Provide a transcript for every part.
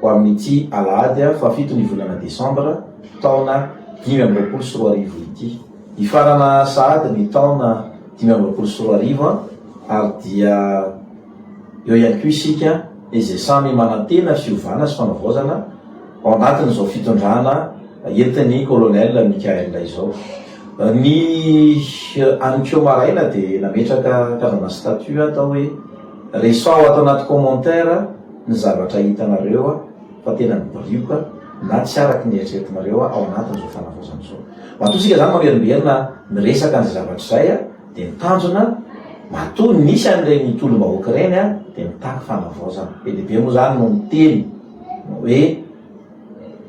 ho amin'ity alahady faha fito ny volana desambra taona dimy amby roapolo sy roa arivo ity. Hifarana sahady ny taona dimy amby roapolo sy roa arivo ary dia eo ihany koa isika izay samy manantena fiovana sy fanavaozana ao anatin'izao fitondrana entin'ny Colonel Mickaël izao. Ny any ko maraina dia nametraka kavana statut atao hoe. Resao ato anaty commentaire ny zavatra hitanareo fa tena mibirioka na tsy araky ny eritreretinareo ao anatin'izao fanavaozana izao. Matoa isika izany mamerimberina miresaka an'izay zavatra izay dia ny tanjona matoa nisy an'ireny tolom-bahoaka ireny dia mitaky fanavaozana. Be dia be moa izany no miteny hoe.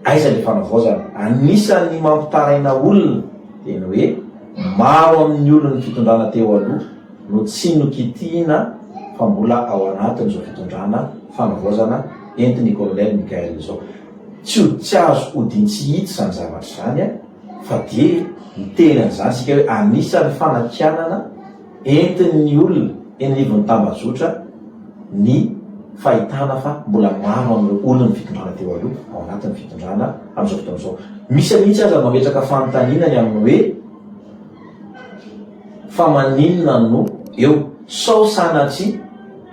Aiza ilay fanavaozana? Anisan'ny mampitaraina olona dia ny hoe maro amin'ny olon'ny fitondrana teo aloha no tsy nokitihina fa mbola ao anatin'izao fitondrana fanavaozana entin'ny Colonel Mickaël izao. Tsy ho tsy azo hodintsihitsy izany zavatra izany fa dia miteny an'izany isika hoe anisan'ny fanakianana Entin'ny olona eny anivon'ny tambajotra ny fahitana fa mbola maro amin'ireo olon'ny fitondrana teo aloha ao anatin'ny fitondrana amin'izao fotoana izao. Misy mihitsy aza mametraka fanontaniana ny amin'ny hoe fa maninona no eo? Sao sanatria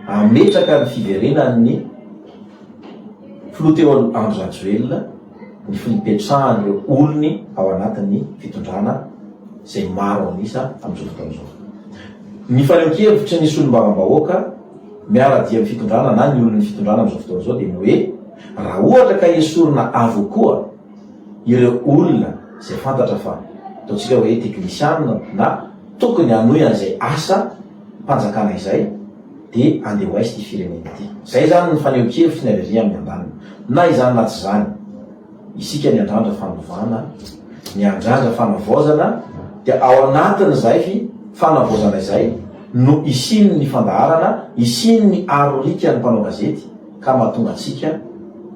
hametraka ny fiverenan'ny filoha teo aloha Andry Rajoelina? ny fipetrahan'ireo olony ao anatin'ny fitondrana izay maro an'isa amin'izao fotoana izao. Ny fanehoan-kevitry ny solombavambahoaka miara-dia amin'ny fitondrana na ny olon'ny fitondrana amin'izao fotoana izao dia ny hoe raha ohatra ka esorina avokoa ireo olona izay fantatra fa ataontsika hoe teknisianina na tokony hanohy an'izay asa mpanjakana izay dia andeha ho aiza ity firenena ity. Izay izany ny fanehoan-kevitry ny Aleria amin'ny andaniny. Na izany na tsy izany, isika miandrandra fanovana, miandrandra fanavaozana, dia ao anatin'izay fanavaozana izay no hisian'ny fandaharana, hisian'ny arorikan'ny mpanao gazety ka mahatonga antsika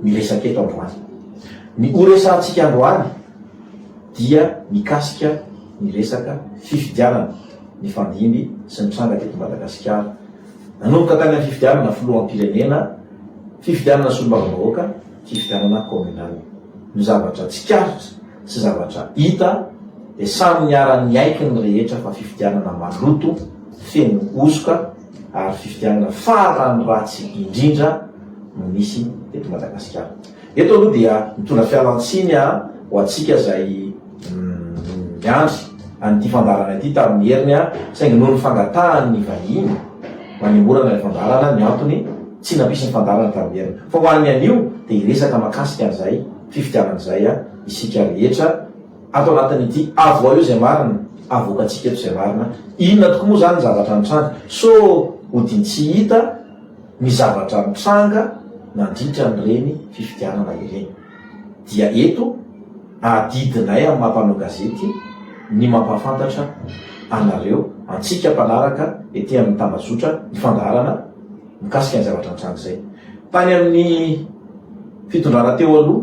miresaka eto androany. Ny horesahantsika androany. dia mikasika ny resaka fifidianana nifandimby sy nitranga teto Madagasikara. Nanomboka tany amin'ny fifidianana filoham-pirenena, fifidianana solombavambahoaka, fifidianana kaominaly. Ny zavatra tsikaritra sy zavatra hita dia samy niara-niaiky ny rehetra fa fifidianana maloto, feno hosoka ary fifidianana farany ratsy indrindra no nisy teto Madagasikara. Eto aloha dia mitondra fialantsiny aho ho antsika izay niandry an'ity fandaharana ity tamin'ny heriny aho saingy noho ny fangatahan'ny vahiny manemorana ilay fandaharana ny antony tsy nampisy ny fandaharana tamin'ny heriny. Fa ho an'ny anio dia hiresaka makasika an'izay fifidianana izay isika rehetra ato anatin'ity Avoaio izay marina, avoakantsika eto izay marina. Inona tokoa moa izany ny zavatra nitranga? So ho din-tsy hita? Ny zavatra nitranga nandritra an'ireny fifidianana ireny dia eto adidinay amin'ny maha mpanao gazety ny mampahafantatra anareo, antsika mpanaraka ety amin'ny tambazotra ny fandaharana mikasika ny zavatra nitranga izay tany amin'ny fitondrana teo aloha.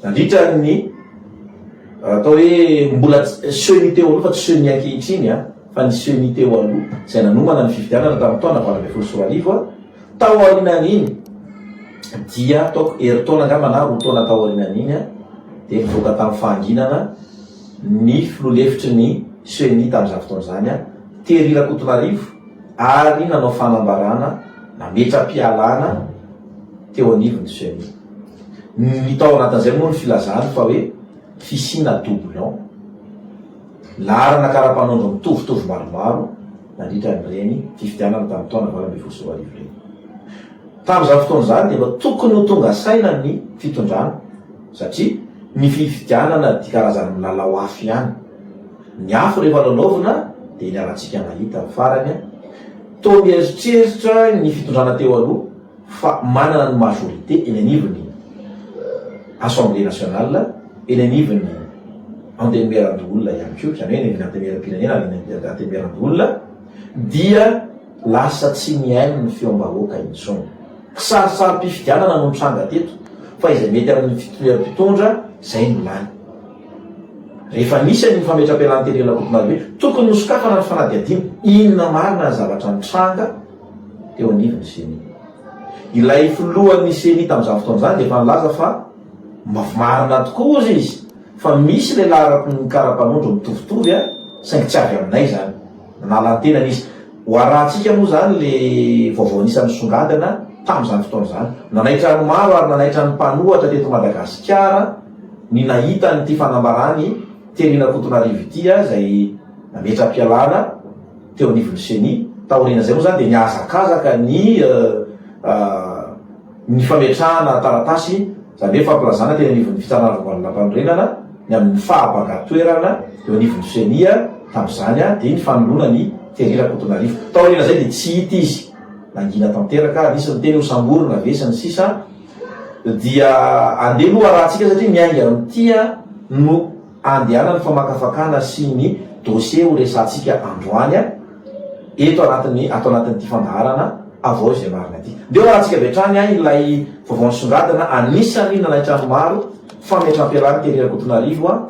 Nandritra ny, atao hoe, mbola ceni teo aloha fa tsy ceni ankehitriny an, fa ny ceni teo aloha izay nanomana ny fifidianana tamin'ny taona valo ambin'ny folo sy roa arivo, tao aorianan'iny dia ataoko herintaona angamba na roa taona tao aorianan'iny dia nivoaka tamin'ny fahanginana ny filoha lefitry ny ceni tamin'izany fotoana izany, Terry Rakotonarivo, ary nanao fanambarana nametra-pialana teo anivon'ny ceni. Ny tao anatin'izay moa ny filazany fa hoe fisiana doublon, laharana kara-panondro mitovitovy maromaro nandritra an'ireny fifidianana tamin'ny taona valo ambin'ny folo sy roa arivo ireny. Tamin'izany fotoana izany dia efa tokony ho tonga saina ny fitondrana satria ny fifidianana dia karazan'ny milalao afo ihany. Ny afo rehefa lalaovina dia iny alantsika nahita farany, toa mieritreritra ny fitondrana teo aloha, fa manana ny majorité eny anivon'ny Assemblée nationale, eny anivon'ny Antenimierandoholona ihany koa, izany hoe eny anivon'ny Antenimieram-pirenena ary eny anivon'ny Antenimierandoholona, dia lasa tsy mihaino ny feom-bahoaka intsony. Kisarisarim-pifidianana no nitranga teto, fa izay mety amin'ny fitovian'ny mpitondra, izay no lany. Rehefa nisy an'iny fametra-pialan'ny teny Ilorakotomaribe, tokony nosokafana ny fanadihadiana, inona marina ny zavatra nitranga, teo anivon'ny ceni. Ilay filohan'ny ceni tamin'izany fotoana izany dia efa nilaza fa mafy marina tokoa hozy izy fa misy ilay larakon'ny kara-panondro mitovitovy a, saingy tsy avy aminay izany. Nanala ny tenany izy. Hoarahantsika moa izany ilay vaovao anisan'ny nisongadina tamin'izany fotoana izany. Nanaitra ny maro ary nanaitra ny mpanohatra teto Madagasikara ny nahita an'ity fanambaran'i Therine Ankotonarivo ity a, izay nametra-pialana, teo anivon'ny Ceni. Taorian'izay moa izany dia nihazakazaka ny ny fametrahana taratasy, izany hoe fampilazana teny anivon'ny Fitsarana Voaloham-panorenana ny amin'ny fahabangan-toerana eo anivon'ny Ceni tamin'izany dia ny fanoloana an'i Terry Rakotonarivo. Taorian'izay dia tsy hita izy. Nangina tanteraka, nisy niteny ho samborina ve sy ny sisa Dia andeha aloha arahantsika satria ny ainga amin'ity no Andehanan'ny famakafakana sy ny dosie ho resahantsika androany eto anatin'ny ato anatin'ity fandaharana Avao izay marina ity. Ndeha hoarantsika avy hatrany an ilay vaovao nisongadina anisan'ny nanaitra ny maro fa mihatrampelahin'i Terry Rakotonarivo an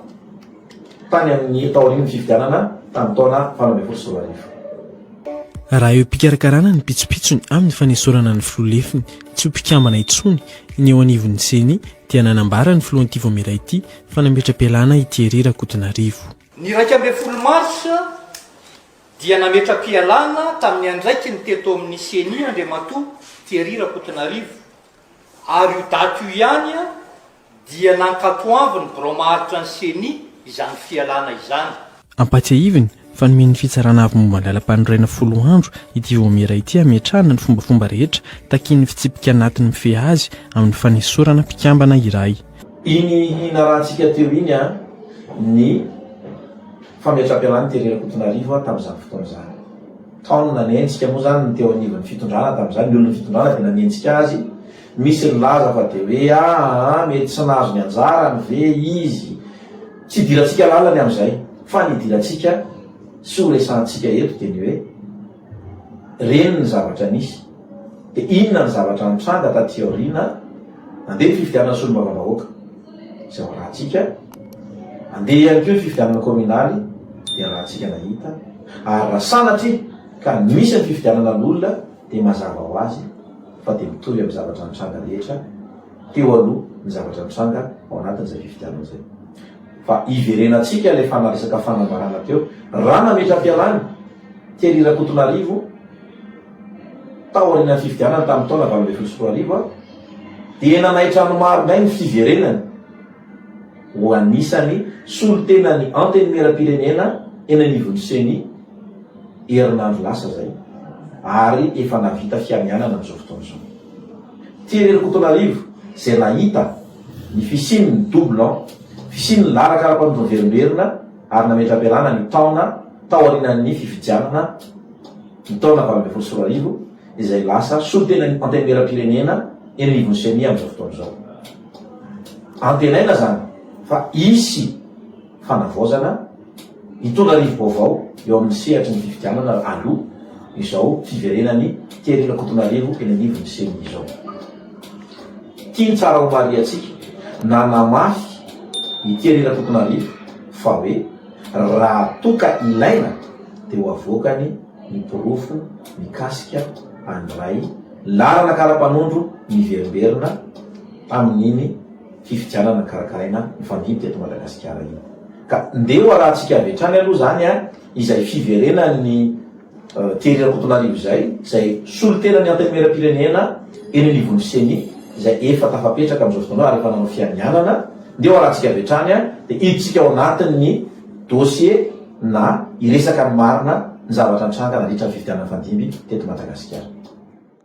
tany amin'ny taorian'ny fifidianana tamin'ny taona valo ambin'ny folo sy roa arivo. Raha eo am-pikarakarana ny pitsopitsony amin'ny fanesorana ny filoha lefiny tsy ho mpikambana intsony ny eo anivon'ny ceni dia nanambara ny filoha anty vao miraity Fa nametra-pialana i Thierry Rakotonarivo. Ny iraika ambin'ny folo marsa dia nametra-pialana tamin'ny andraikiny teto amin'ny Ceni Andriamatoa Thierry Rakotonarivo ary io daty io ihany dia nankatoavin'ny birao maharitra ny Ceni izany fialana izany. Ampahatsiahiviny fa nomen'ny Fitsarana Avo momba ny Lalampanorenana folo andro ity vaomiera ity hametrahana ny fombafomba rehetra takian'ny fitsipika anatiny mifehy azy amin'ny fanesorana mpikambana iray. Iny hinarahantsika teo iny ny fametram-pialan'i Thierry Rakotonarivo tamin'izany fotoana izany. Tao no nanenjika moa izany ny teo anivon'ny fitondrana tamin'izany, ny olon'ny fitondrana dia nanenjika azy Misy nilaza fa dia hoe aa mety tsy nahazo ny anjarany ve izy. Tsy idirantsika lalany amin'izay. Fa ny idirantsika sy ho resahantsika eto dia ny hoe reny ny zavatra nisy. Dia inona ny zavatra nitranga taty aoriana? Andeha ny fifidianana solombavambahoaka. Izay ho arahantsika. Andeha ihany koa ny fifidianana kaominaly. Dia arahantsika nahita. Ary raha sanatria ka misy ny fifidianana loholona. dia mazava ho azy fa dia mitovy amin'ny zavatra nitranga rehetra teo aloha ny zavatra nitranga ao anatin'izay fifidianana izay. Fa iverenantsika ilay fanaresaka fanambarana teo, raha nametra fialàny Thierry Rakotonarivo tao aorianan'ny fifidianana tamin'ny taona valo ambin'ny folo sy roa arivo aho, dia nanaitra ny maro indray ny fiverenany ho anisan'ny solontenan'ny Antenimierampirenena eny anivon'ny Ceni. herinandro lasa izay ary efa nahavita fianianana amin'izao fotoana izao. Tery Ankotonarivo izay nahita ny fisian'ny double an, fisian'ny lalaka ara-panovaverimberina ary nametra-pialana ny taona tao aorianan'ny fifidianana ny taona valo ambin'ny folo sy roa arivo izay lasa solontenan'ny Antenimierampirenena eny anivon'ny Ceni amin'izao fotoana izao. Antenaina izany fa hisy. fanavaozana hitondra rivo-baovao eo amin'ny sehatry ny fifidianana aloha izao fiverenan'i Thierry Rakotonarivo eny anivon'ny ceni izao. Tiany tsara homarihantsika na namafy i Thierry Rakotonarivo fa hoe raha toa ka ilaina dia ho avoakany ny porofo mikasika an'ilay laharana kara-panondro miverimberina amin'iny fifidianana karakaraina mifandimby teto Madagasikara iny ka ndeha ho arahantsika avy hatrany aloha izany a, izay fiverenan'i Thierry Rakotonarivo izay, izay solontenan'ny Antenimierampirenena eny anivon'ny Ceni izay efa tafapetraka amin'izao fotoana izao ary efa nanao fianianana, ndeha ho arahantsika avy hatrany a, dia hiditsika ao anatin'ny dossier na hiresaka ny marina ny zavatra nitranga nandritra ny fifidianana mifandimby teto Madagasikara.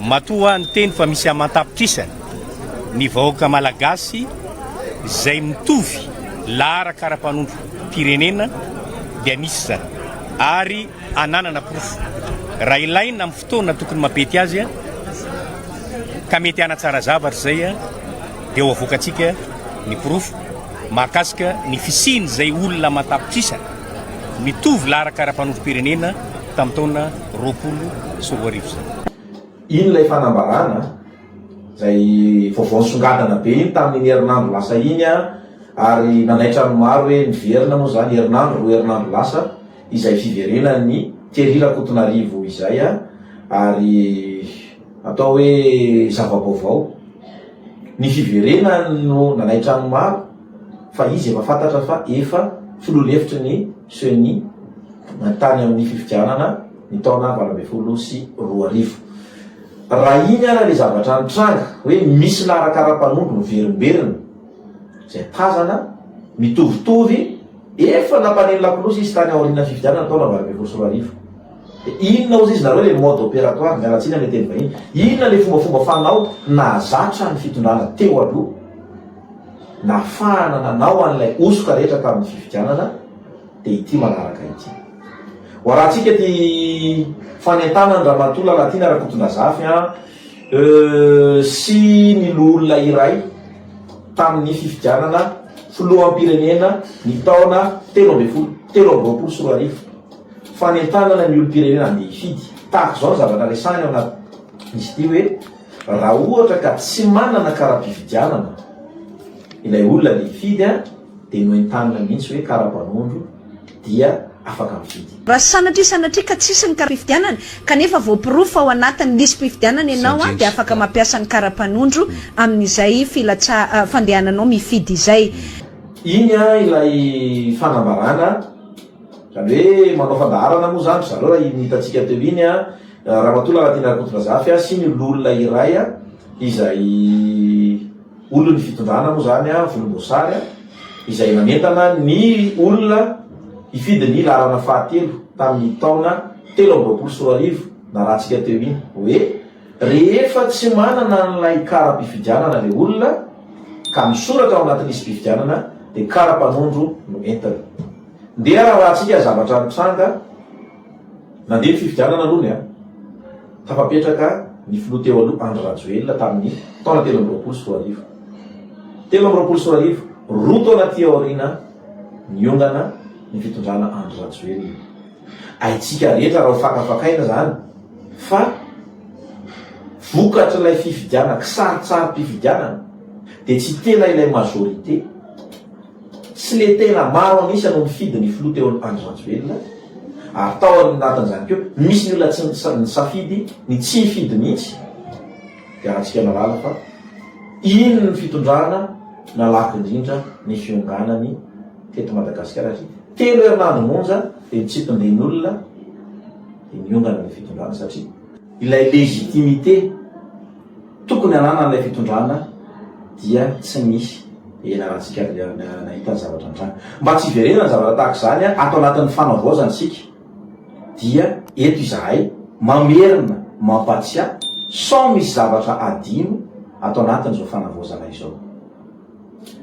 Matoa niteny fa misy aman-tapitrisany ny vahoaka Malagasy izay mitovy laharaka ara-panontram-pirenena dia misy izany ary ananana porofo raha ilaina amin'ny fotoana tokony mampety azy ka mety hanatsara zavatra izay dia ho avoakantsika ny porofo mahakasika ny fisian'izay olona aman-tapitrisany mitovy laharaka ara-panontram-pirenena tamin'ny taona roapolo sy roa arivo izay. Iny ilay fanambarana, izay vaovao nisongadina be iny tamin'iny herinandro lasa iny ary nanaitra ny maro hoe niverina moa izany herinandro, roa herinandro lasa, izay fiverenan'i Thierry Rakotonarivo izay ary atao hoe zava-baovao. Ny fiverenany no nanaitra ny maro fa izy efa fantatra fa efa filoha lefitry ny. Ceni, tany amin'ny fifidianana ny taona valo ambin'ny folo sy roa arivo. Raha iny ary ilay zavatra nitranga hoe misy lahy rakaram-panondro miverimberina izay tazana mitovitovy efa nampaneno lakolosy izy tany aorianan'ny fifidianana taona valo ambin'ny folo sy roa arivo. Dia inona hozy izy nareo ilay mode opératoire, miala tsiny amin'ny teny vahiny, inona ilay fombafomba fanao nahazatra ny fitondrana teo aloha? Nafahana nanao an'ilay hosoka rehetra tamin'ny fifidianana dia ity manaraka ity. Ho arahantsika ity fanentanan'Ramatoa Lalatiana Rakotondrazafy an sy ny loholona iray tamin'ny fifidianana filoham-pirenena ny taona telo ambin'ny folo telo amby roapolo sy roa arivo. Fanentanana ny olom-pirenena handeha hifidy. Tahaka izao ny zavatra resahina ao anatin'izy ity hoe. Raha ohatra ka tsy manana kara-pifidianana ilay olona le hifidy an, dia noentanina mihitsy hoe kara-panondro dia afaka mifidy. Raha sanatria sanatria ka tsisy ny kara-pifidianana kanefa voaporofo fa ao anatin'ny lisi-pifidianana ianao an, dia afaka mampiasa ny kara-panondro amin'izay filatsa, fandehananao mifidy izay. Iny an ilay fanambarana, izany hoe manao fandaharana moa izany ry zareo raha iny hitantsika teo iny an, Ramatoa Lalatiana Rakotondrazafy a, sy ny lolona iray a, izay olon'ny fitondrana moa izany a, volomboasary a, izay nanentana ny olona hifidy ny laharana fahatelo tamin'ny taona telo amby roapolo sy roa arivo narahantsika teo iny, hoe rehefa tsy manana an'ilay kara-pifidianana ilay olona ka misoratra ao anaty lisi-pifidianana dia kara-panondro no entiny. Ndeha rarahantsika zavatra nitranga. Nandeha ny fifidianana aloha ny an. Tafapetraka ny filoha teo aloha Andry Rajoelina tamin'ny taona telo amby roapolo sy roa arivo. Telo amby roapolo sy roa arivo, roa taona aty aoriana niongana ny fitondrana Andry Rajoelina. Haintsika rehetra raha ho fakafakaina izany fa vokatr'ilay fifidianana, kisaritsarim-pifidianana dia tsy tena ilay majorité. Tsy letera maro an'isa no nifidy ny filoha teo Andry Rajoelina ary tao anatin'izany koa misy ny olona tsy nisafidy ny tsy hifidy mihitsy dia alantsika malala fa iny ny fitondrana nalaky indrindra ny fionganany teto Madagasikara satria telo herinandro monja dia ny tsipindin'olona dia niongana ny fitondrana satria Ilay légitimité tokony ananan'ilay fitondrana dia tsy misy. Ela raha tsika nahita ny zavatra nitranga. Mba tsy hiverenana ny zavatra tahaka izany ato anatin'ny fanavaozana isika dia eto izahay mamerina mampatsiahy sao misy zavatra adino ato anatin'izao fanavaozana izao.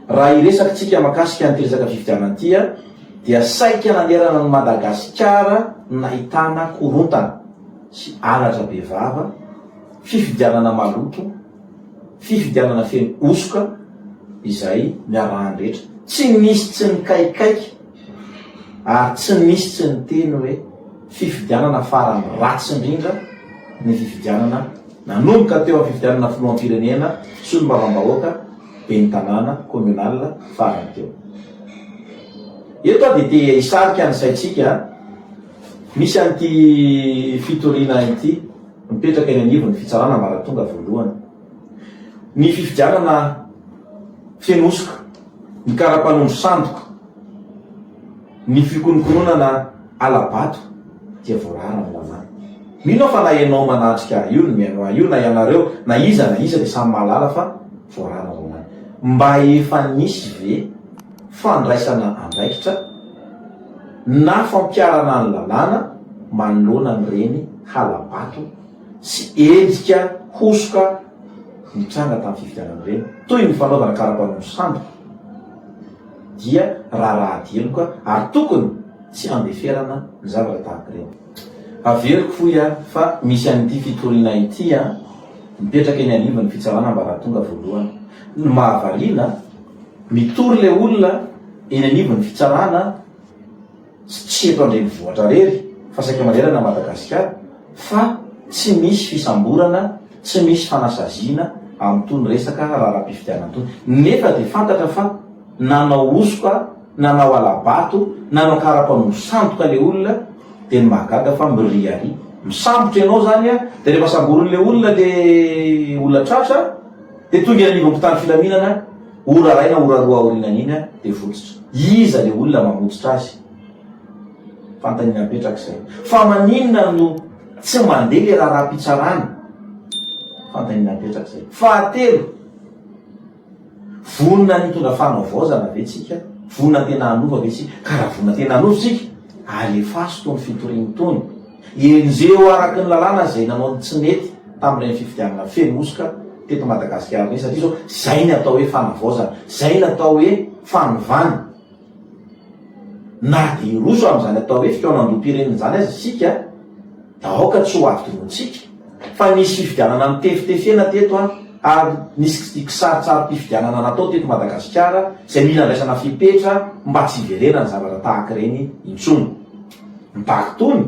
Raha hiresaka tsika makasika an'ity resaka fifidianana ity dia saika nanerana an'i Madagasikara ny nahitana korontana sy anatra be vava, fifidianana maloto, fifidianana feno hosoka izay niarahan'ny rehetra. Tsy nisy tsy nikaikaika. Ary tsy misy tsy niteny hoe fifidianana farany ratsy indrindra ny fifidianana nanomboka teo amin'ny fifidianana filoham-pirenena, solombavambahoaka, ben'ny tanàna, communal farany teo. Eto aho dia te hisarika ny saintsika misy an'ity fitoriana ity mipetraka eny anivon'ny fitsarana ambaratonga voalohany. Ny fifidianana feno hosoka, ny kara-panondro sandoka, ny fikonokononana hala-bato dia voarara amin'ny lalàna. Mino aho fa na ianao manatrika ahy io, ny mihaino ahy io, na ianareo, na iza na iza dia samy mahalala fa voarara ny lalàna. Mba efa nisy ve fandraisana andraikitra na fampiharana ny lalàna manoloana an'ireny hala-bato? sy endrika hosoka nitranga tamin'ny fifidianana ireny, toy ny fanaovana kara-panondro sandoka, dia raharaha diloka ary tokony tsy handeferana ny zavatra tahaka ireny. Averiko fohy aho fa misy an'ity fitoriana ity mipetraka eny anivon'ny fitsarana ambaratonga voalohany. Ny mahavariana, mitory ilay olona eny anivon'ny fitsarana, tsy eto an-drenivohitra rery fa saika manerana Madagasikara fa tsy misy fisamborana, tsy misy fanasaziana amin'itony resaka raharaham-pifidianana itony nefa dia fantatra fa nanao hosoka, nanao hala-bato, nanao karapanondro sandoka ilay olona dia ny mahagaga fa miriaria. Misambotra ianao izany an, dia rehefa samborin'ilay olona ilay olona tratra dia tonga eny anivon'ny mpitandro filaminana. Ora iray na ora roa aorianany iny dia votsitra. Iza le olona mamotsitra azy? Fanontaniana mipetraka izay. Fa maninona no tsy mandeha le raharaham-pitsarana? Fanontaniana mipetraka izay. Fahatelo, vonona ny hitondra fanavaozana ve tsika? Vonona tena hanova ve tsika? Ka raha vonona tena hanova tsika, alefaso tony fitoriana tony. Enjeho araka ny lalàna izay nanao ny tsy nety tamin'ireny fifidianana feno hosoka teto Madagasikara ireny satria izao izay ny atao hoe fanavaozana, izay ny atao hoe fanovana. Na dia hiroso amin'izany atao hoe fikaonandoham-pirenena izany aza isika dia aoka tsy ho adinointsika fa nisy fifidianana notefitefena teto ary nisy kisaritsarim-pifidianana natao teto Madagasikara izay mila andraisana fepetra mba tsy hiverenan'ny zavatra tahaka ireny intsony. Mitaky tony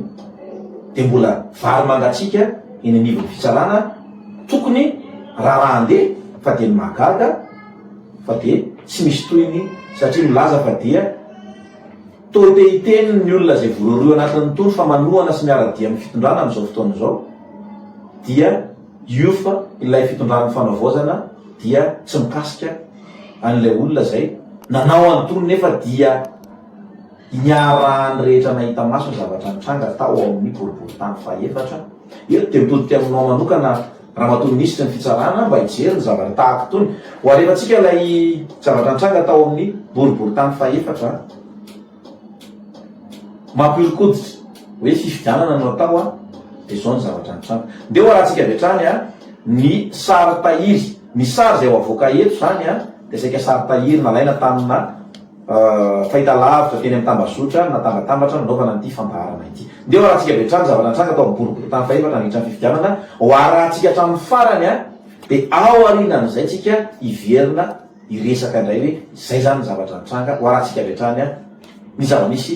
dia mbola vary mangatsiaka eny anivon'ny fitsarana tokony rarahan-dia fa dia ny mahagaga fa dia tsy misy tohiny satria milaza fa dia toa te hiteny ny olona izay voarohirohy anatin'ny tony fa manohana sy miara-dia amin'ny fitondrana amin'izao fotoana izao dia UF ilay fitondran'ny fanavaozana dia tsy mikasika an'ilay olona izay nanao an'itony nefa dia Iarahan'ny rehetra nahita maso ny zavatra nitranga tao amin'ny boriborintany fahefatra. Eto dia mitodika aminao manokana Ramatoa Minisitry ny Fitsarana mba hijery ny zavatra tahaka itony. Ho alefantsika ilay zavatra nitranga tao amin'ny boriborintany fahefatra. Mampihoron-koditra. Hoe fifidianana no atao dia izao ny zavatra nitranga. Ndeha ho arahantsika avy hatrany ny sary tahiry. Ny sary izay ho avoaka eto izany dia saika sary tahiry nalaina tamina. fahitalavitra teny amin'ny tambazotra natambatambatra nanaovana an'ity fandaharana ity. Ndeha hoarahantsika avy hatrany ny zavatra nitranga tao amin'ny boriborintany fahefatra nandritra ny fifidianana, hoarahantsika hatramin'ny farany dia ao aorianan'izay tsika hiverina hiresaka indray hoe izay izany ny zavatra nitranga, hoarahantsika avy hatrany ny zava-misy.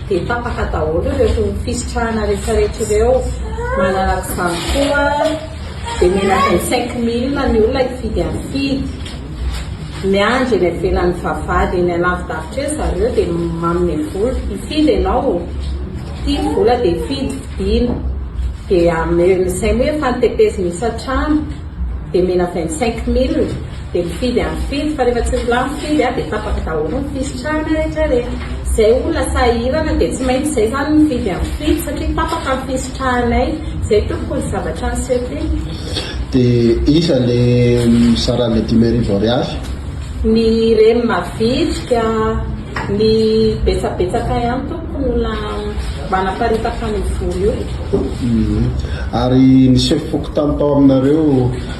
Dia tapaka daholo ireto fisitrahana retraretra ireo, manaraka izany koa dia omena vingt cinq mille ny olona hifidy an'i Fidy, miandry eny ivelan'ny vavahady eny alavidavitra eny zareo dia manome vola, hifidy ianao ô, ity ny vola dia fidy, fidiana, dia ameo, izay moa efa notepezina isan-trano dia omena vingt cinq mille. Dia mifidy andro fidy fa rehefa tsy milaha ny fidy dia tapaka daholo ny fisitrahana rehetra rehetra. Izay olona sahirana dia tsy maintsy izay izany mifidy andro fidy satria tapaka ny fisitrahanay. Izay tompoko ny zavatra niseho teo. Dia iza ilay mizara ilay dimy arivo ariary? Ny reny mavitrika, ny betsabetsaka ihany tompoko ny olona manaparitaka an'io vola io. Ary niseho fokontany tao aminareo?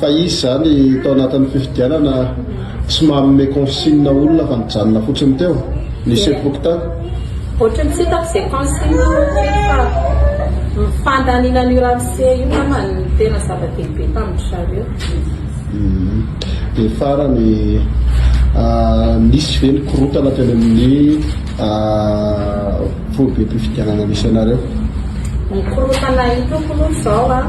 Fa izy izany tao anatin'ny fifidianana tsy manome consigne olona fa nijanona fotsiny teo. Nisy epoque tany. Ohatry ny tsy hitako izay consigne ohatry fa ny fandaniana an'io ramose io ngamba no tena zava-dehibe tamin-dry zareo. Dia farany, nisy ve ny korontana teny amin'ny foibem-pifidianana misy anareo? Ny korontana hitako aloha izao an.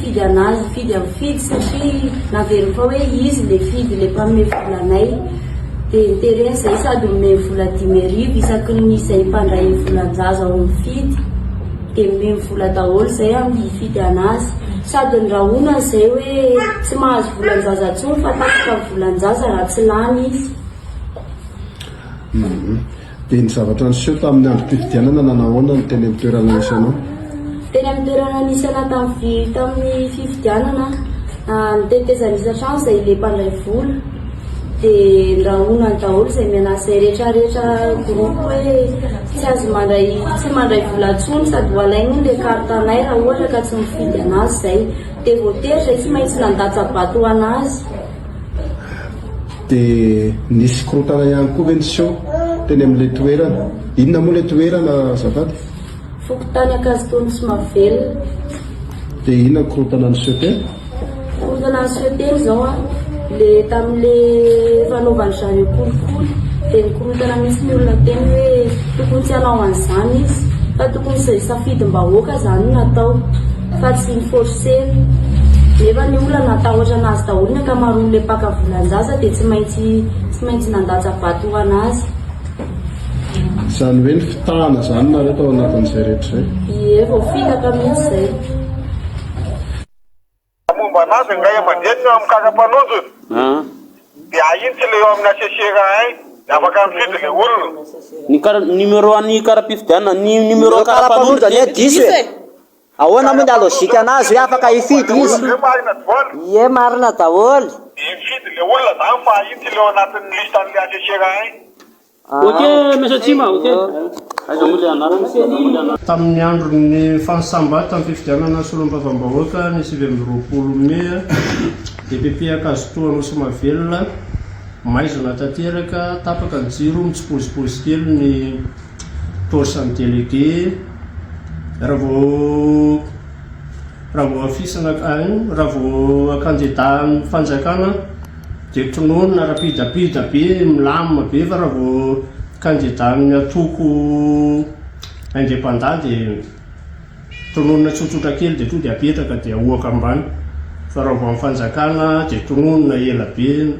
Fidy an'azy fidy am fidy satria naveriny fa hoe izy le fidy le mpanome vola anay de nitereny zay sady omeny vola dimy arivo isaky ny izay mpandray volan-jaza ao am fidy de omeny vola daholo zay am fidy an'azy sady ny rahonany zay hoe tsy mahazo volan-jaza tsony fa tapitra am volan-jaza raha tsy lany izy. Dia ny zavatra niseho tamin'ny androm-pifidianana nanahoana ny teny amin'ny toerana nisy anao? Teny amin'ny toerana nisy anay tamin'ny tamin'ny fifidianana aho, ny tetezana isan-trano izay le mpandray vola dia nirahonany daholo izay mian'asa izay rehetra rehetra groupe hoe tsy azo mandray tsy mandray vola intsony sady ho alainy hono le carte anay raha ohatra ka tsy mifidy an'azy izay dia voatery izay tsy maintsy nandatsa-bato ho an'azy. Dia nisy korontana ihany koa ve niseho teny amin'ilay toerana? Inona moa ilay toerana azafady? Fokontany Ankazotoa Nosy Mahavelona. Dia inona ny korontana niseho teny? Korontana niseho teny izao an, le tamin'ilay fanaovany zareo kolikoly dia nikorontana mihitsy ny olona teny hoe tokony tsy hanao an'izany izy fa tokony safidim-bahoaka izany no natao. Fa tsy ny forcer. Nefa ny olona natahotra anazy daholo ny ankamaroany le mpaka volanjaza de tsy maintsy tsy maintsy nandatsa vato ho anazy. Zany hoe nifitahana zany nareo tao anatin'izay rehetra zay? Ie vao fitaka mintsy zay. Raha momba anazy angahe mandeha ny mikasa mpanonjy de ahin tsy le eo amin'ny assessera hain de afaka mifidy le olona. Ny kara, ny numéro an'ny kara-pifidianana, ny numéro kara-panondro anie diso e. Ahoana moa ny halogikan'azy hoe afaka hifidy izy? Ie marina daholo. Dia mifidy le olona zany fa iny tsy le ao anatin'ny liste an'le assesseur iny. Ok Mesa Atsimo ok. Tamin'ny andron'ny fahasambatan'ny fifidianana solombavambahoaka ny sivy amby roapolo mey, dpp Ankazotoa Anosimahavelona, maizina tanteraka, tapaka ny jiro, mitsipozipozy kely ny Paosan'ny délégué raha vao raha vao afisina raha vao kandida amin'ny fanjakana dia tononina rapidapida be milamina be fa raha vao kandida amin'ny antoko indépendant dia tononina tsotsotra kely dia tonga dia apetraka dia ahoaka ambany fa raha vao amin'ny fanjakana dia tononina ela be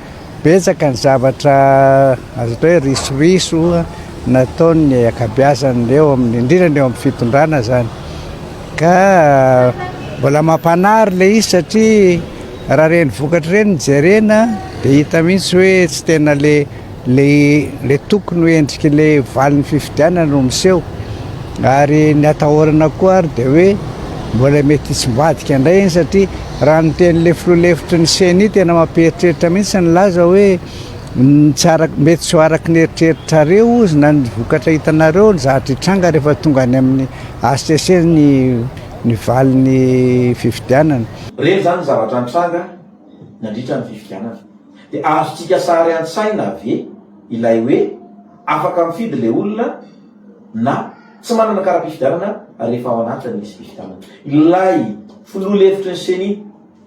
Betsaka ny zavatra azo atao hoe risoriso nataon'ny ankabeazan'ny eo amin'ny indrindra ny eo amin'ny fitondrana zany ka mbola mampanary ilay izy satria raha ireny vokatra ireny no jerena dia hita mihitsy hoe tsy tena le le le tokony ho endriky le valin'ny fifidianana no miseho ary ny atahorana koa ary dia hoe mbola mety tsy mivadika indray iny satria Raha ny tenin'ilay filoha lefitry ny Ceni, tena mampieritreritra mihitsy ny laza hoe mety tsy ho araka ny eritreritrareo ozy na ny vokatra hitanareo ny zavatra hitranga rehefa tonga any amin'ny hcc ny valin'ny fifidianana. Ireny izany ny zavatra nitranga nandritra ny fifidianana. Dia azontsika sary an-tsaina ve ilay hoe afaka mifidy ilay olona na. Tsy manana kara-pifidianana ary efa ao anatin'ny lisy fifidianana ilay filoha lefitry ny Ceni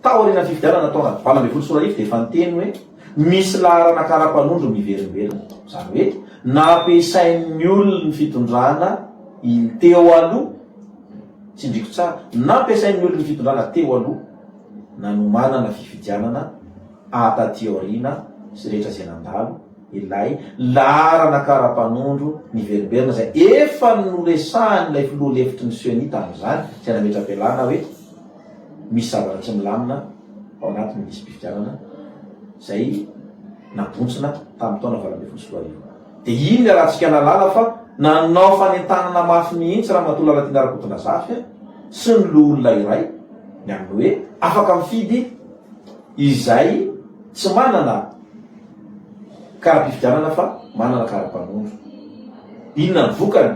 tao aorianan'ny fifidianana taona valo ambin'ny folo sy roa arivo dia efa niteny hoe misy laharana kara-panondro miverimberina. Izany hoe nampiasain'ny olona ny fitondrana teo aloha, tsindriako tsara, nampiasain'ny olona ny fitondrana teo aloha nanomanana fifidianana taty aoriana sy rehetra izay nandalo, Ilay laharana kara-panondro niverimberina izay efa noresahan'ilay filoha lefitry ny Ceni tamin'izany, izay nametra-pialana hoe misy zavatra tsy milamina ao anatin'ny lisi-pifidianana izay nabontsina tamin'ny taona valo ambin'ny folo sy roa arivo. Dia iny ny alantsika nahalala fa nanao fanentanana mafy mihitsy Ramatoa Lalatiana Rakotonazafy sy ny loholona iray ny amin'ny hoe afaka mifidy izay tsy manana Karapifidianana fa manana karapanondro. Inona ny vokany?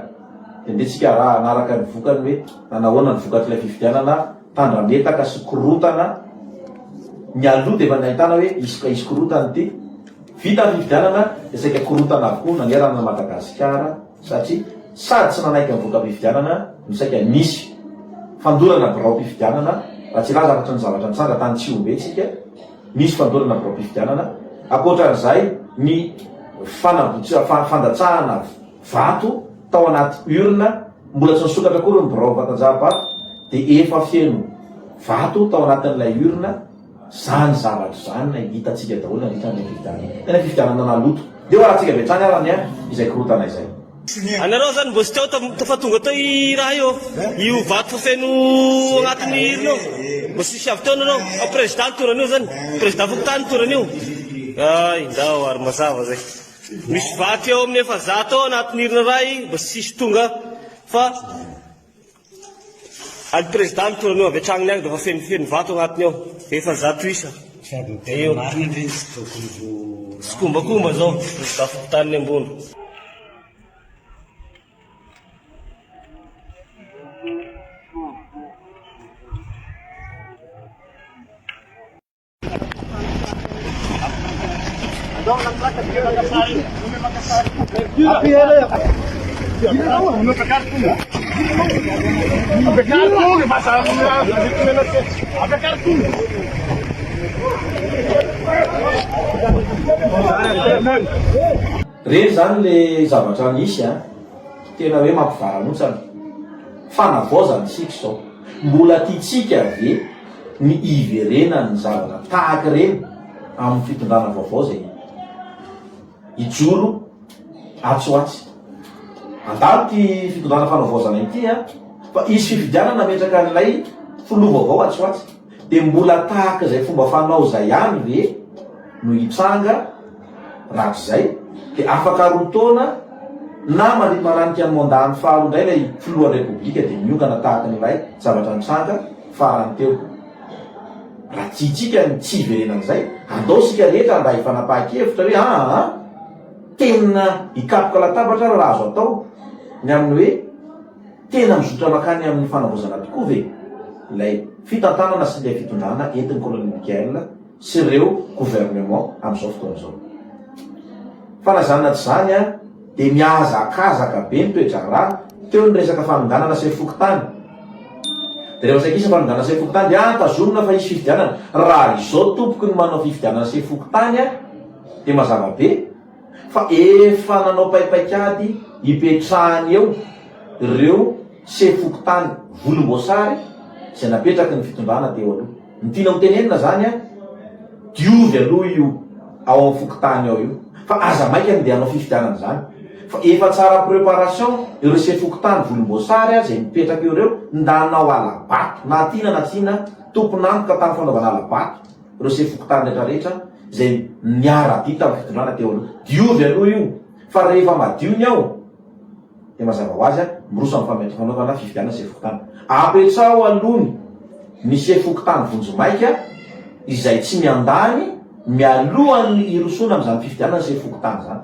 Dia ndeha tsika araha hanaraka ny vokany hoe nanahoana ny vokatr'ilay fifidianana tandrametaka sy korotana mialoha dia efa nahitana hoe hisy ka hisy korotana ity. Vita ny fifidianana dia saika korotana avokoa nanerana an'i Madagasikara satria sady tsy nanaiky ny voka-pifidianana no saika nisy fandorana biraom-pifidianana raha tsy hilaza afa-tsy ny zavatra nitranga tany Tsihombe tsika Misy fandorana amim-pifidianana, ankoatra izay ny fandatsahana vato tao anaty urne, mbola tsy nisokatra akory ny birao vatanjaham-bato dia efa feno vato tao anatin'ilay urne, izany zavatra izany no hitantsika daholo nandritra an'ilay fifidianana, ilay fifidianana naloto. Dia hoarahantsika avy hatrany ary anie izay korontana izay. Anareo zany mbo tsy teo tam fa tonga teo i raha io io vato feno agnatin'ny hirina io mbo tsisy avy teo nareo fa président ny toran'io zany président fokontany ny toran'io ay ndao ary mazava zay misy vato eo amin'ny efazato eo agnatin'ny hirina ray mbo tsisy tonga fa Any prezida any toerana eo avy hatrany ny agny dia efa fenofeno vato agnatiny ao, efa zato isa. Sady ny tena marina ndry ny tsy tokony ho rano. Tsikombakomba zao ny prezida fokontaniny ambony. Reny zany le zavatra misy a! Tena hoe mampivarahontsana. Fanavaozana isika izao. Mbola tiantsika ve? ny hiverenan'ny zavatra tahaka ireny amin'ny fitondrana vaovao izay hijoro atsy ho atsy. Andalo ity fitondrana fanavaozana ity a, fa hisy fifidianana hametraka an'ilay filoha vaovao atsy ho atsy, dia mbola tahaka izay fomba fanao izay ihany ve no hitranga? Raha izay, dia afaka roa taona na mariparanty an'ny mandat-ny faharoa indray ilay filohan'ny Repoblika dia miongana tahaka ny ilay zavatra nitranga farany teo. Raha tiantsika ny tsy hiverenana izay, andao isika rehetra mba hifanapahan-kevitra hoe aa, tena hikapoka latabatra ary raha azo atao ny amin'ny hoe tena mizotra mankany amin'ny fanavaozana tokoa ve ilay fitantanana sy ilay fitondrana entin'ny Colonel Mickael sy ireo gouvernement amin'izao fotoana izao. Fa na izany na tsy izany ary dia mihazakazaka be ny toe-draharaha, teo ny resaka fanonganana sefo fokontany, dia rehefa saika hisy ny fanonganana sefo fokontany dia ah tazomina fa hisy fifidianana, raha izao tompoko ny manao fifidianana sefo fokontany dia mazava be, fa efa nanao paipaikady hipetrahany eo ireo sefo fokontany volomboasary izay napetraky ny fitondrana teo aloha. Ny tiana ho tenenina izany an, diovy aloha io ao amin'ny fokontany ao io fa aza maika ny handeha hanao fifidianana izany fa efa tsara preparation ireo sefo fokontany volomboasary izay mipetraka eo ireo nda hanao halabato na tiana na tsia na tompon'antoka tamin'ny fanaovana halabato ireo sefo fokontany rehetra rehetra izay niara-dia tamin'ny fitondrana teo aloha. Diovy aloha io, fa rehefa madio ny ao, dia mazava ho azy, miroso amin'ny fampiantom-panaovana fifidianana sefo fokontany. Apetraho aloha ny ny sefo fokontany vonjimaika izay tsy miandany mialohan'ny hirosoana amin'izany fifidianana sefo fokontany izany.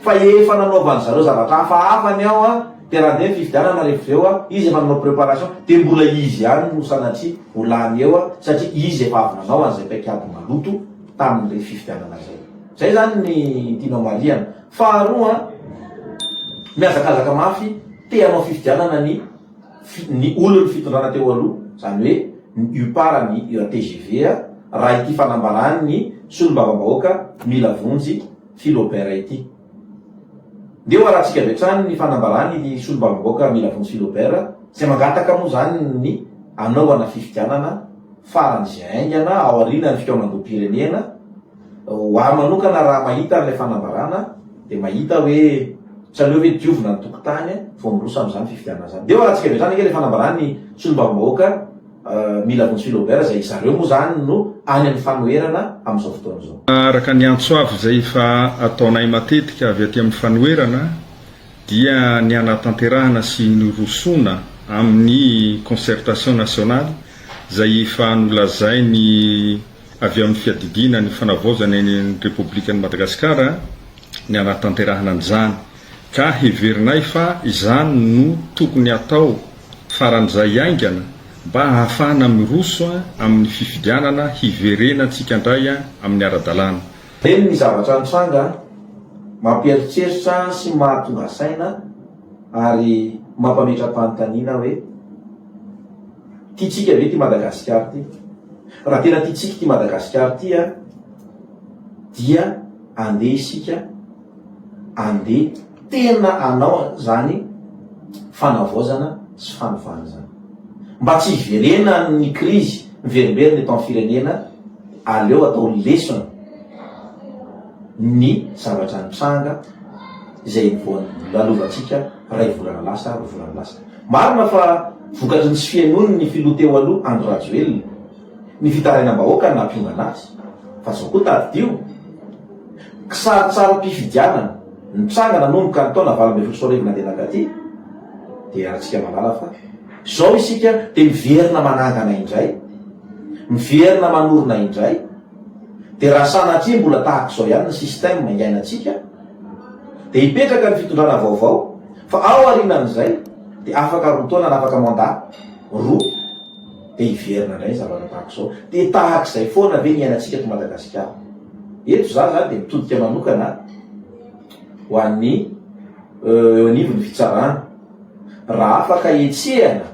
Fa efa nanaovan-dry zareo zavatra hafahafa ny ao an! Dia raha andeha ny fifidianana rehefa avy eo an, izy efa nanao préparation, dia mbola izy ihany no sanatria ho lany eo an, satria izy efa avy nanao an'izay paikady maloto tamin'ireny fifidianana izay. Izay izany ny tianao marihana. Faharoa an, mihazakazaka mafy te hanao fifidianana ny fi, ny olon'ny fitondrana teo aloha, izany hoe ny UPAR ny UATGV an, raha ity fanambaran'ny solombavambahoaka mila vonjy Philobert ity. Ndeha ho arantsika avy hatrany ny fanambarany ity solombavambaoaka Mila Vonjy Philobert izay mangataka moa izany ny hanaovana fifidianana faran'izay haingana ao aorianan'ny fikaonandoham-pirenena, ho ahy manokana raha mahita an'ilay fanambarana dia mahita hoe tsy aleo ve diovina ny tokontany vao miroso amin'izany fifidianana izany. Ndeha ho arantsika avy hatrany ange ilay fanambarany solombavambahoaka. Mila vonjy Philobert izay zareo moa izany no any amin'ny fanoherana amin'izao fotoana izao. Araka ny antso avo izay efa ataonay matetika avy aty amin'ny fanoherana dia ny hanatanterahana sy hirosoana amin'ny concertation nationale izay efa nolazainy avy amin'ny fiadidiana ny fanavaozana ny Repoblikan'i Madagasikara ny hanatanterahana an'izany. Ka heverinay fa izany no tokony hatao faran'izay haingana mba hahafahana miroso amin'ny fifidianana hiverenantsika indray amin'ny ara-dalàna. Eny, ny zavatra nitranga mampieritreritra sy mahatonga saina ary mampametra-panontaniana hoe, tiantsika ve ity Madagasikara ity? Raha tena tiantsika ity Madagasikara ity dia andeha isika, Ande tena anao zany fanavaozana sy fanovana zany. Mba tsy hiverenan ny krizy miverimberina eto am firenena aleo atao lesona ny zavatra nitranga izay vao lalovantsika ray volana lasa roa volana lasa. Marina fa vokatry ny tsy fihainoan ny filoha teo aloha Andry Rajoelina. Ny fitarainam-bahoaka no nampiongana azy fa izao koa tadidio, kisarintsarim-pifidianana nitranga nanomboka ny taona valo ambin'ny folo sy roa arivo nandeha nankaty, dia iarahantsika mahalala fa izao isika dia miverina manangana indray, miverina manorina indray, dia raha sanatria mbola tahaka izao ihany ny système iainantsika dia hipetraka ny fitondrana vaovao fa ao aorianan'izay dia afaka roa taona na afaka mandat roa. Dia hiverina indray ny zavatra tahaka izao. Dia tahaka izay foana ve ny iainantsika eto Madagasikara? Eto izaho izany dia mitodika manokana ho an'ny eo anivon'ny fitsarana. Raha afaka hetsehana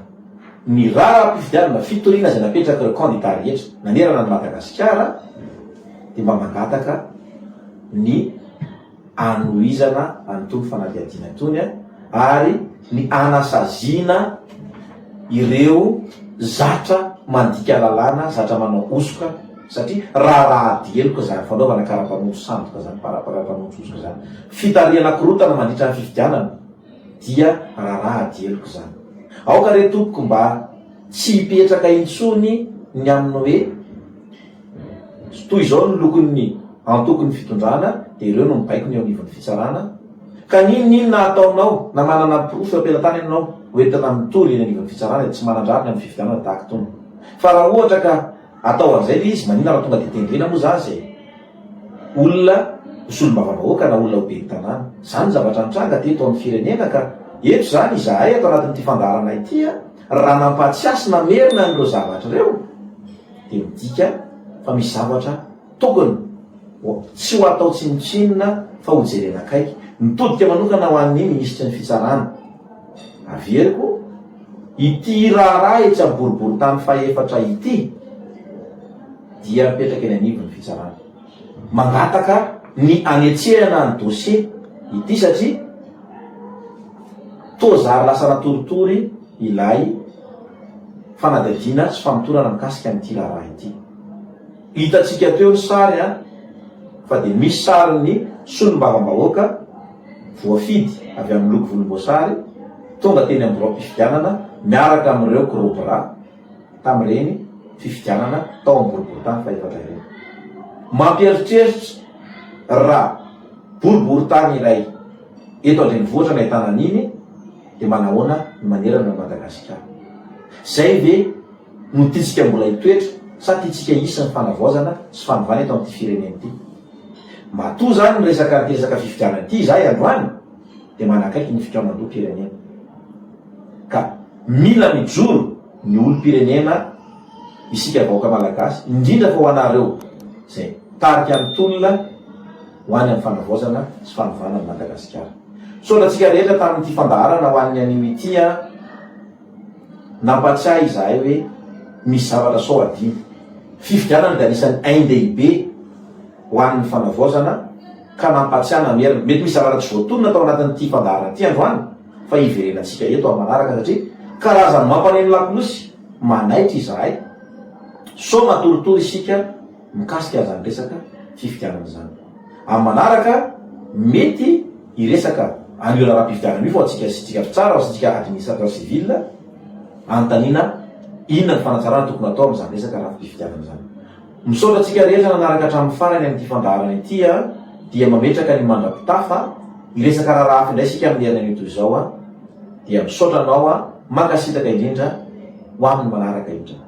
ny raharaham-pifidianana fitoriana izay napetrak'ireo kandida rehetra nanerana an'i Madagasikara dia mba mangataka ny anohizana an'itony fanadihadiana itony ary ny hanasaziana ireo zatra mandika lalàna, zatra manao hosoka satria raharaha ady heloka izany fanaovana kara-panondro sandoka izany, kara-panondro hosoka izany, fitarihana korontana mandritra ny fifidianana dia raharaha ady heloka izany. Aoka re tompoko mba tsy hipetraka intsony ny amin'ny hoe, Tsy toy izao ny lokon'ny antokon'ny fitondrana dia ireo no mibaiko ny eo anivon'ny fitsarana ka n'inon'inona ataonao na manana porofo eo am-pelantany ianao ho entina mitory eny anivon'ny fitsarana dia tsy manan-drariny amin'ny fifidianana tahaka itony fa raha ohatra ka atao an'izay ilay izy maninona raha tonga dia tendrena moa za izay olona ho solombavambahoaka na olona ho ben'ny tanàna izany ny zavatra nitranga teto amin'ny firenena ka eto izany izahay ato anatin'ity fandaharana ity raha nampahatsiasy namerina an'ireo zavatra ireo dia midika fa misy zavatra tokony ho, tsy ho atao tsinontsinona fa ho jerena akaiky. Mitodika manokana ho an'ny Minisitry ny Fitsarana. Averiko, ity raharaha etsy amin'ny boriborintany fahefatra ity dia mipetraka eny anivon'ny Fitsarana. mangataka ny anetsehana ny dossier ity satria toa zary lasa natoritory ilay fanadihadiana sy famotorana mikasika an'ity raharaha ity. Hitantsika teo ny sary an, fa dia misy sarin'ny solombavambahoaka voafidy avy amin'ny loko volomboasary tonga teny amin'ny biraom-pifidianana miaraka amin'ireo korobra. tamin'ireny fifidianana tao amin'ny boriborintany fahefatra ireny. Mampieritreritra raha boriborintany iray eto an-drenivohitra no ahitana an'iny dia manahoana ny manerana an'i Madagasikara. Izay ve no tiantsika mbola hitoetra sa tiantsika hisy ny fanavaozana sy fanovana eto amin'ity firenena ity? Matoa izany ny resaka anty resaka fifidianana ity izahay androany, dia manakaiky ny fikaonandoham-pirenena ka mila mijoro ny olom-pirenena isika vahoaka malagasy indrindra fa ho anareo izay tarika ny tolona ho any amin'ny fanavaozana sy fanovana an'i Madagasikara. Misaotra antsika rehetra tamin'ity fandaharana ho an'ny anio ity an! Nampatsiahy izahay hoe misy zavatra sao adino. Fifidianana dia anisan'ny ain-dehibe ho an'ny fanavaozana. ka nampatsiahana ny heriny. Mety misy zavatra tsy voatonona tao anatin'ity fandaharana ity androany fa hiverenantsika eto amin'ny manaraka satria karazan'ny mampaneno lakolosy manaitra izahay. Sao matoritory isika mikasika an'izany resaka fifidianana izany. Amin'ny manaraka mety hiresaka an'io raharaham-pifidianana io fa ho antsika isika mpitsara, ho antsika administrateur civil anontaniana inona ny fanatsarana tokony atao amin'izany resaka rafi-pifidianana izany. Misaotra antsika rehetra nanaraka hatramin'ny farany amin'ity fandaharana ity a! dia mametraka ny mandrapitafa, hiresaka raharaha hafa indray isika amin'ny herinanio toy izao a! dia misaotra anao a! mankasitraka indrindra, ho amin'ny manaraka indray.